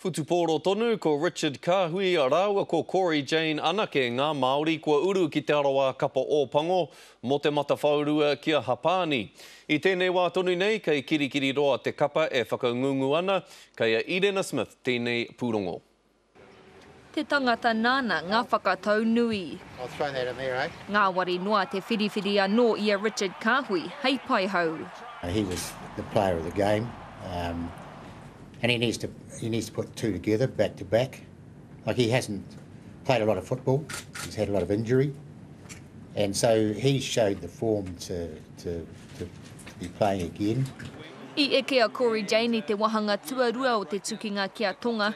Whutupōro tonu, ko Richard Kāhui rāua ko Corey Jane anake ngā Māori kua uru ki Te Arawa Kapa Ōpango mō te matawhaorua ki a Hapani. I tēnei wā tonu nei, kei Kirikiriroa te kapa e whakangungu ana, kei a Irena Smith tēnei pūrongo. Te tangata nāna ngā whakatau nui. Ngāwari noa te whiriwhiri anō i a Richard Kāhui hei paihau. He was the player of the game and he needs to he needs to put two together back to back like he hasn't played a lot of football he's had a lot of injury and so he showed the form to to to be playing again. I eke a Cory Jane i te wahanga tuarua o te tukinga ki a Tonga,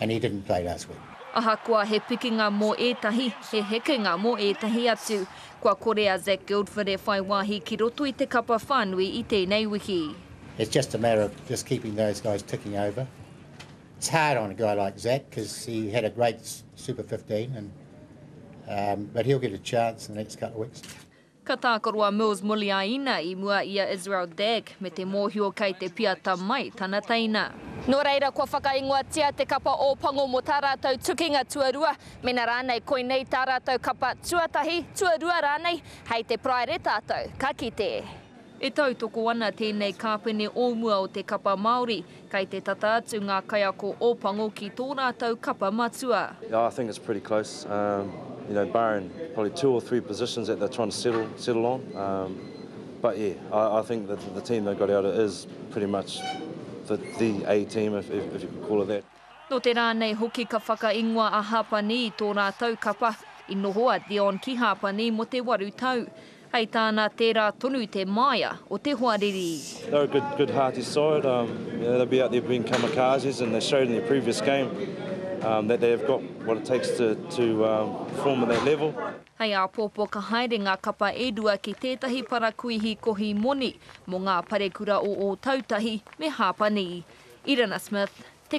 and he didn't play last week. Ahakoa he pikinga mō ētahi, he hekenga mō ētahi atu. Kua kore a Zac Guildford e whai wāhi ki roto i te kapa whānui i tēnei wiki. It's just a matter of just keeping those guys ticking over. It's hard on a guy like Zac because he had a great Super 15 and um, but he'll get a chance in the next couple of weeks. Ka tākaro a Mills Muliaina i mua i a Israel Dagg me te mōhio kei te piata mai tana teina. Nō reira, kua whakaingoatia te kapa Ōpango mō tā rātou tukinga tuarua, mēnā rānei koinei tā rātou kapa tuatahi, tuarua rānei, hei te paraire tātou ka kite. E tautoko ana tēnei kāpene o mua o te kapa Māori, kei te tata atu ngā kaiako o Pango ki tō rātou kapa matua. Yeah, I think it's pretty close. Um, you know, barring probably two or three positions that they're trying to settle settle on. Um, but yeah, I, I think that the team they got out is pretty much the, the A team, if, if, if you could call it that. Nō te rā nei hoki ka whakaingoa a Hapani i tō rātou kapa, i noho a Dion ki Hapani mō te waru tau. Hei tāna, tērā tonu te māia o te hoariri. They're a good, good hearty side. Um, you know, they'll be out there being kamikazes and they showed in their previous game um, that they have got what it takes to, to um, perform at that level. Hei āpōpō ka haere ngā kapa e rua ki tētahi parakuihi kohi moni mō ngā parekura o Ōtautahi me Hāpani. Irina Smith, Te.